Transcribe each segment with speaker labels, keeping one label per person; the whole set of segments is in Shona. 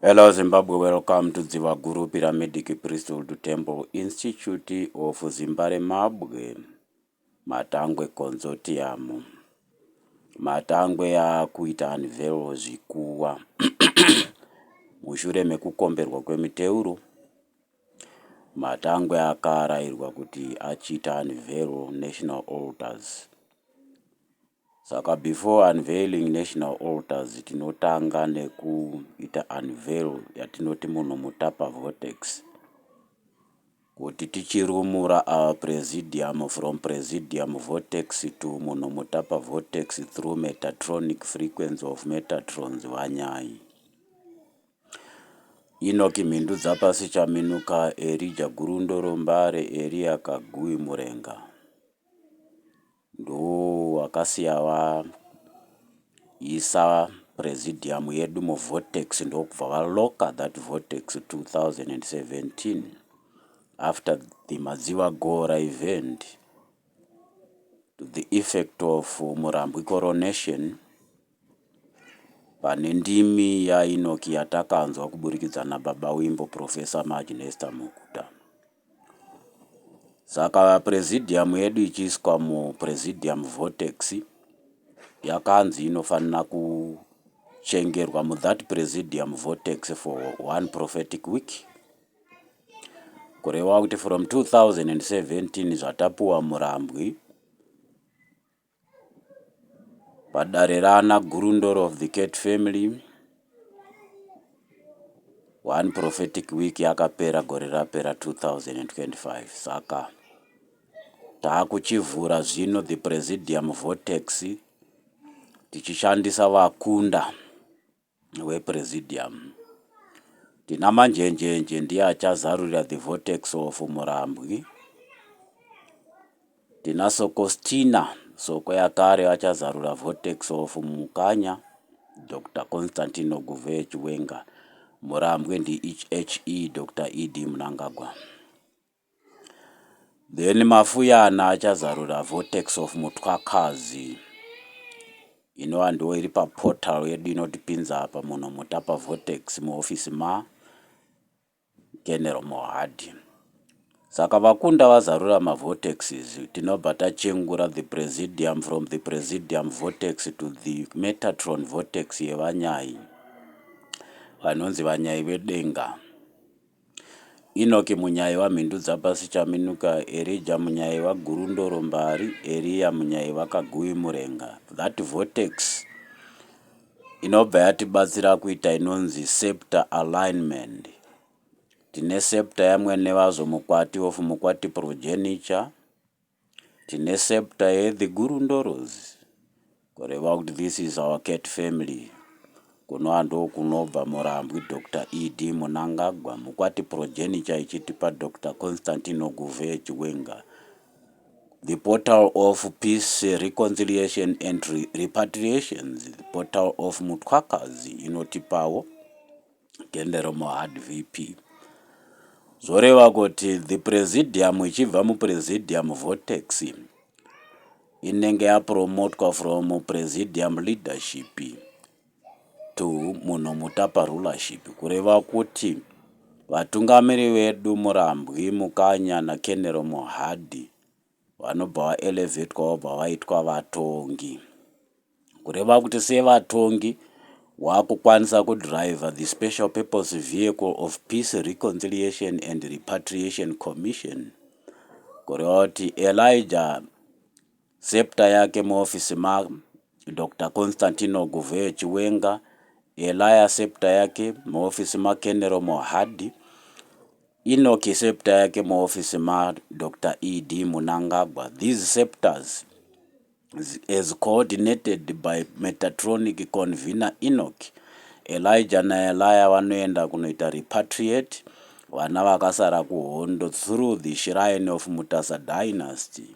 Speaker 1: Hello Zimbabwe, welcome to Dziva Guru Pyramidiki Priesthood Temple Institute of Zimbare Mabwe, Matangwe Consortium. Matangwe yakuita anvelo zvikuwa mushure mekukomberwa kwemuteuro Matangwe akaarairwa kuti achiita unveil national altars saka before unveiling national altars tinotanga nekuita unveil yatinoti munhu mutapa vortex kuti tichirumura our presidium from presidium vortex to munhu mutapa vortex through metatronic frequency of metatrons vanyai. Enoki Mhindudzapasi Chaminuka, Erija Gurundoro Mbare, Eria Kagui Murenga ndowakasiya vaisa presidium yedu muvortex ndokubva valocker that vortex 2017 after the Madziva Gora event to the effect of Murambwi coronation Pane ndimi yaEnoki yatakanzwa kuburikidza naBaba Wimbo, Professor Maj Nester Mukuda. Saka Presidium yedu ichiiswa muPresidium Vortex yakanzi inofanira kuchengerwa muthat Presidium Vortex for one prophetic week. Kureva kuti from 2017 zvatapuwa murambwi. Padare raana Gurundoro of the Cat Family one prophetic week yakapera gore rapera 2025 saka taakuchivhura zvino the Presidium Vortex tichishandisa vakunda wePresidium. Tina Manjenjenje ndiye achazarurira The Vortex of Murambwi. Tina Sokostina Soko Yakare vachazarura Vortex of Mukanya. Dr Constantino Guve Chiwenga Murambwi ndiHE Dr ED Mnangagwa. Then Mafuyana achazarura Vortex of Mutwakazi inova ndiyo iri paportal yedu inotipinza apa muno Mutapa Vortex muhofisi ma General Mohadi. Saka vakunda vazarura mavortexes tinobva tachengura the presidium from the presidium vortex to the metatron vortex yevanyai vanonzi vanyai vedenga. Inoki Munyaiwa Mhindudzapasi Chaminuka Erija Munyaiwa Gurundoro Mbari Eriya Munyaiwa Kaguvi Murenga That vortex inobva yatibatsira kuita inonzi sceptre alignment Tine sceptre yaMwenevazo Mukwati of Mukwati Progeniture Tine sceptre ye the guru ndoroz kureva kuti this is our cat family kunoa ndokunobva murambwi Doctor ED Munangagwa mukwati progeniture ichiti pa Doctor Constantine Oguvhee Chiwenga the portal of peace reconciliation and repatriations portal of Mutwakazi inotipawo Gende remuHard VP. Zvoreva kuti the presidium ichibva mupresidium vortex inenge yapromotwa from presidium leadership to munhu mutapa rulership kureva kuti vatungamiri vedu Murambwi, Mukanya naKenero Mohadi Vanobva vaelevetwa vobva vaitwa vatongi. Kureva kuti sevatongi wakukwanisa kudriver the special purpose vehicle of Peace Reconciliation and Repatriation Commission. Kureva kuti Elijah septa yake muofisi ma Doctor Constantino Guvheyo Chiwenga, Elijah septa yake muofisi ma Kenero Mohadi, Inoki scepter yake muoffice ma Doctor ED Munangagwa these scepters as coordinated by Metatronic convener Inoki Elijah na Elijah vanoenda kunoita repatriate vana vakasara kuhondo through the shrine of Mutasa dynasty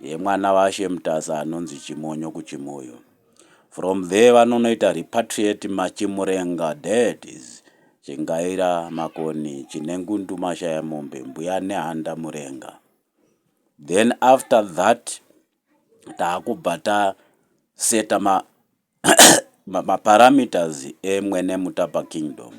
Speaker 1: yemwana vashe Mutasa anonzi Chimonyo kuChimoyo From there vanonoita repatriate Machimurenga dad is Chingaira Makoni Chinengundu Mashayamombe Mbuya Nehanda Murenga then after that taakubva taseta ma maparameters emwene mutapa kingdom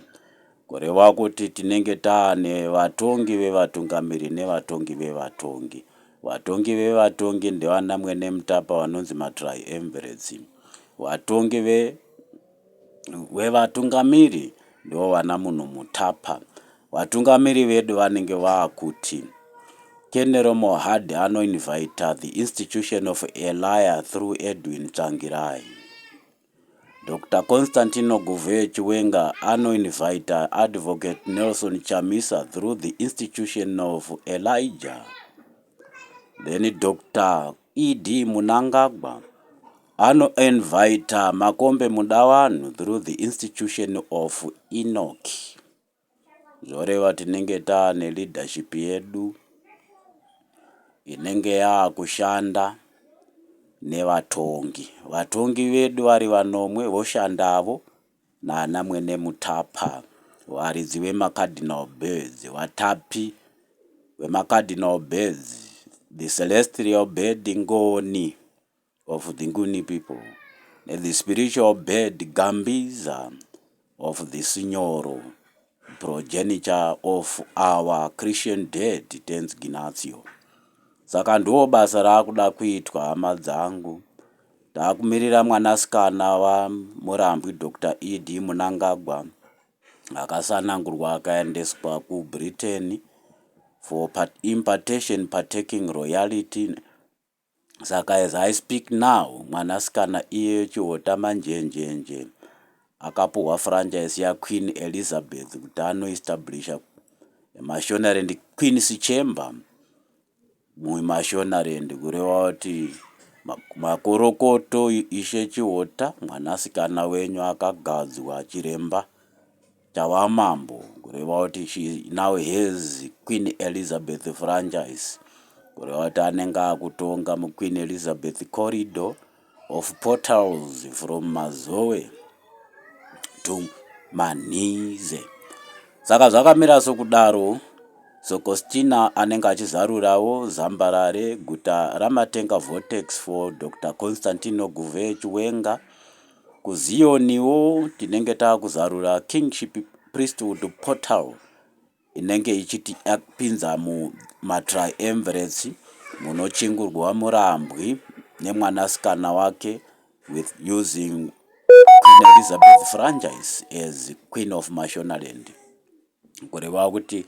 Speaker 1: Kureva kuti tinenge taane vatongi vevatungamiri nevatongi vevatongi. Vatongi vevatongi ndivana Mwene Mutapa vanonzi matriumvirates. Vatongi ve, vevatungamiri ndivo vana Munhu Mutapa. Vatungamiri vedu vanenge vaakuti. Kenero Mohadi anoinvita the institution of Elia through Edwin Tsvangirai. Doctor Constantino Guvheyo Chiwenga ano inviter Advocate Nelson Chamisa through the institution of Elijah. Then Doctor ED Munangagwa ano inviter Makombe Mudawanhu through the institution of Enoch. Zvoreva tinenge taane leadership yedu inenge yaakushanda nevatongi. Vatongi vedu vari vanomwe voshandavo nana mwene mutapa, varidzi vemacardinal birds, vatapi vemacardinal birds, the celestial bird ngoni. of the Nguni people, the spiritual bird Gambiza of the Sinyoro, progenitor of our Christian dead Tenzi Ginatio. Saka ndiwo basa raakuda kuitwa hama dzangu. Taakumirira mwanasikana vaMurambwi Dr. ED Munangagwa akasanangurwa akaendeswa kuBritain for impartation partaking royalty Saka as I speak now mwanasikana iyeyo Chihota Manjenjenje akapuhwa franchise ya Queen Elizabeth kuti ano establisher Mashonaland Queen's Chamber mu Mashonaland kureva kuti makorokoto Ishe Chihota mwanasikana wenyu akagadzwa chiremba Tava mambo, kureva kuti she now has Queen Elizabeth franchise, kureva kuti anenge akutonga muQueen Elizabeth corridor of portals from Mazowe to Manhize. Saka zvakamira sokudaro, Sokostina anenge achizarurawo Zambarare, guta raMatenga Vortex for Doctor Constantino Guve Chiwenga, KuZiyoniwo tinenge takuzarura Kingship Priesthood Portal inenge ichitipinza mumaTriumvirates munochingurwa murambwi nemwanasikana wake with using Queen Elizabeth Franchise as Queen of Mashonaland. Kureva kuti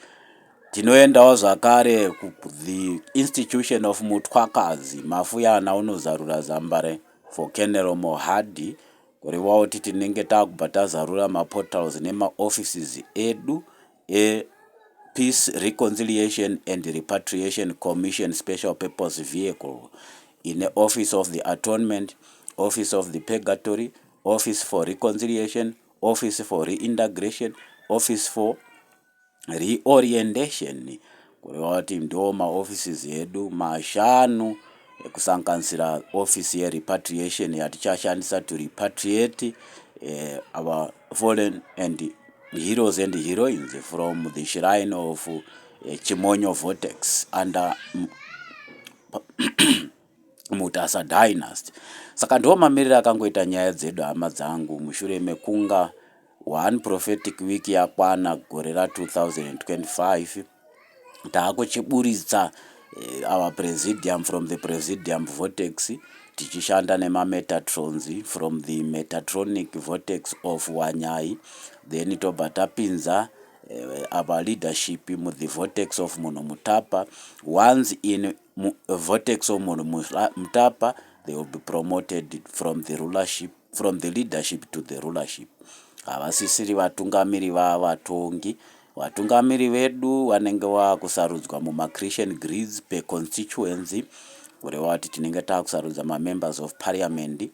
Speaker 1: tinoendawo zvakare kuThe Institution of Mutwakazi, Mafuyana unozarura zambare for Colonel Mohadi kureva kuti tinenge takubva tazarura maportals nemaoffices edu ePeace, Reconciliation and Repatriation Commission Special Purpose Vehicle ine Office of the Atonement, Office of the Purgatory, Office for Reconciliation, Office for Reintegration, Office for Reorientation, kureva kuti ndo maoffices edu mashanu ekusanganisira office yerepatriation yatichashandisa to repatriate eh, our fallen and heroes and heroines from the shrine of eh, Chimonyo Vortex under Mutasa Dynasty. Saka ndiwo mamiriro akangoita nyaya dzedu hama dzangu mushure mekunga one prophetic week yakwana gore ra 2025 taakuchiburitsa eh, our presidium from the presidium vortex tichishanda nemametatrons from the metatronic vortex of wanyai then tobva tapinza uh, our leadership mu the vortex of munhu mutapa once in mu vortex of munhu mutapa they will be promoted from the rulership from the leadership to the rulership havasisiri vatungamiri vaa vatongi vatungamiri vedu vanenge vakusarudzwa mumachritian grids per constituency kureva kuti tinenge takusarudza mamembers of parliament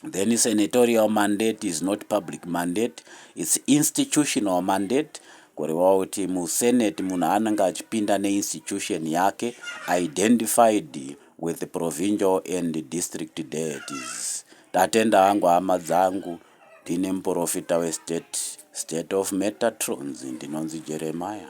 Speaker 1: Then senatorial mandate is not public mandate, it's institutional mandate kureva kuti musenate munhu anenge achipinda neinstitution yake identified with the provincial and district deities. Tatenda hangu hama dzangu, ndine muprofita westate, state of Metatrons, ndinonzi Jeremiah.